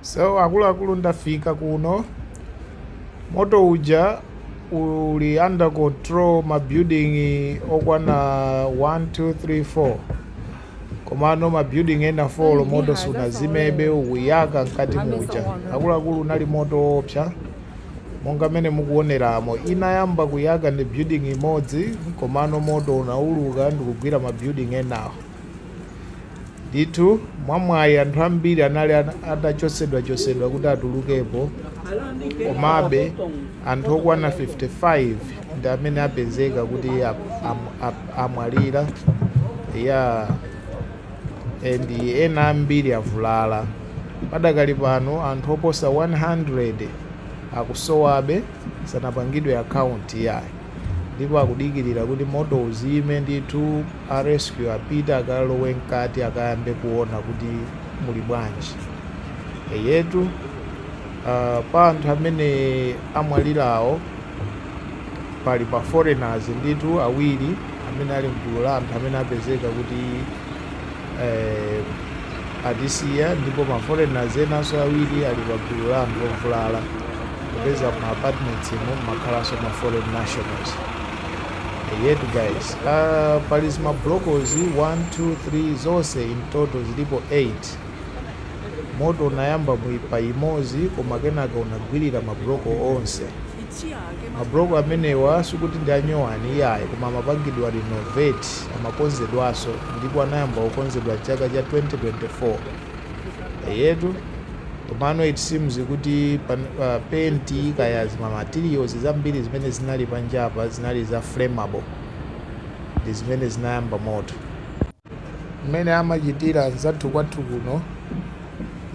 So akuluakulu ndafika kuno, moto uja uli under control ma building okwana 1 2 3 4 komano ma building ena 4 moto sunazimebe ukuyaka mkati muja akuluakulu unali moto woopsa monga mmene mukuoneramo inayamba kuyaka ndi building imodzi komano moto unauluka ndikugwira ma building enawo Ndithu, mwamwayi anthu ambiri anali atachotsedwachotsedwa kuti atulukepo. Komabe, anthu okwana 55 ndi amene apezeka kuti amwalira ya and ena ambiri avulala. Padakali pano anthu oposa 100 akusowabe, sanapangidwe akaunti ya. ndipo akudikirira kuti moto uzime ndithu a rescue apite akalowe mkati akayambe kuona kuti muli bwanji eyetu uh, pa anthu amene amwalirawo pali ma foreigners ndithu awiri amene ali mgulu la anthu amene apezeka kuti eh, atisiya ndipo ma foreigners enanso awiri ali pa gulu la anthu ovulala popeza mu apartments umo mumakhalanso ma foreign nationals eyetu guys uh, pali zima bloko izi 1 2 3 zonse in total zilipo 8 moto unayamba muipa imozi koma kenaka unagwirira mabloko onse Ma block amenewa sikuti ndi a nyowani iyayi koma amapangidwa renovate, amakonzedwaso ndipo anayamba kukonzedwa chaka cha 2024. Eyetu komano it seems kuti paint kaya zima materials zambiri zimene zinali panjapa zinali za flammable ndi zimene zinayamba moto. mmene amachitira anzathu kwathu kuno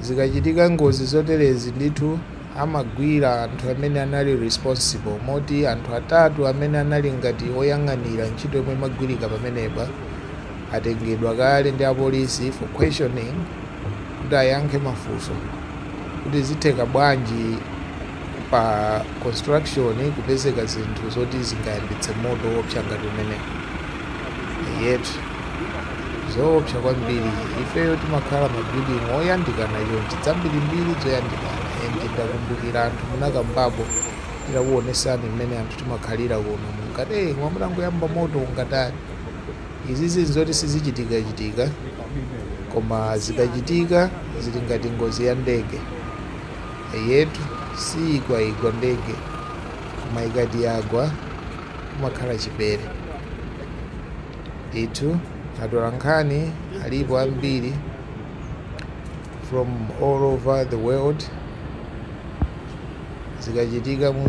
zikachitika ngozi zoterezi ndithu amagwira anthu amene anali responsible moti anthu atatu amene anali ngati oyang'anira ntchito yomwe imagwirika pamenepa atengedwa kale ndi apolisi for questioning kuti ayankhe mafunso kuti zitheka bwanji Pa construction kupezeka zinthu zoti zingayambitse moto woopsa ngati umenewu eyetu zoopsa kwambiri ifeyo timakhala ma building oyandikana chonchi zambirimbiri zoyandikana and ndakumbukira anthu munakambapo titakuonesani mmene anthu timakhalira kuno munkati hey koma mutangoyamba moto ungatani izizi nzoti sizichitikachitika koma zikachitika zili ngati ngozi ya ndege Eyetu, siyigwaigwa ndege koma ikati yagwa kumakhala chipere ndithu. Atolankhani alipo ambiri from all over the world zikachitika mu.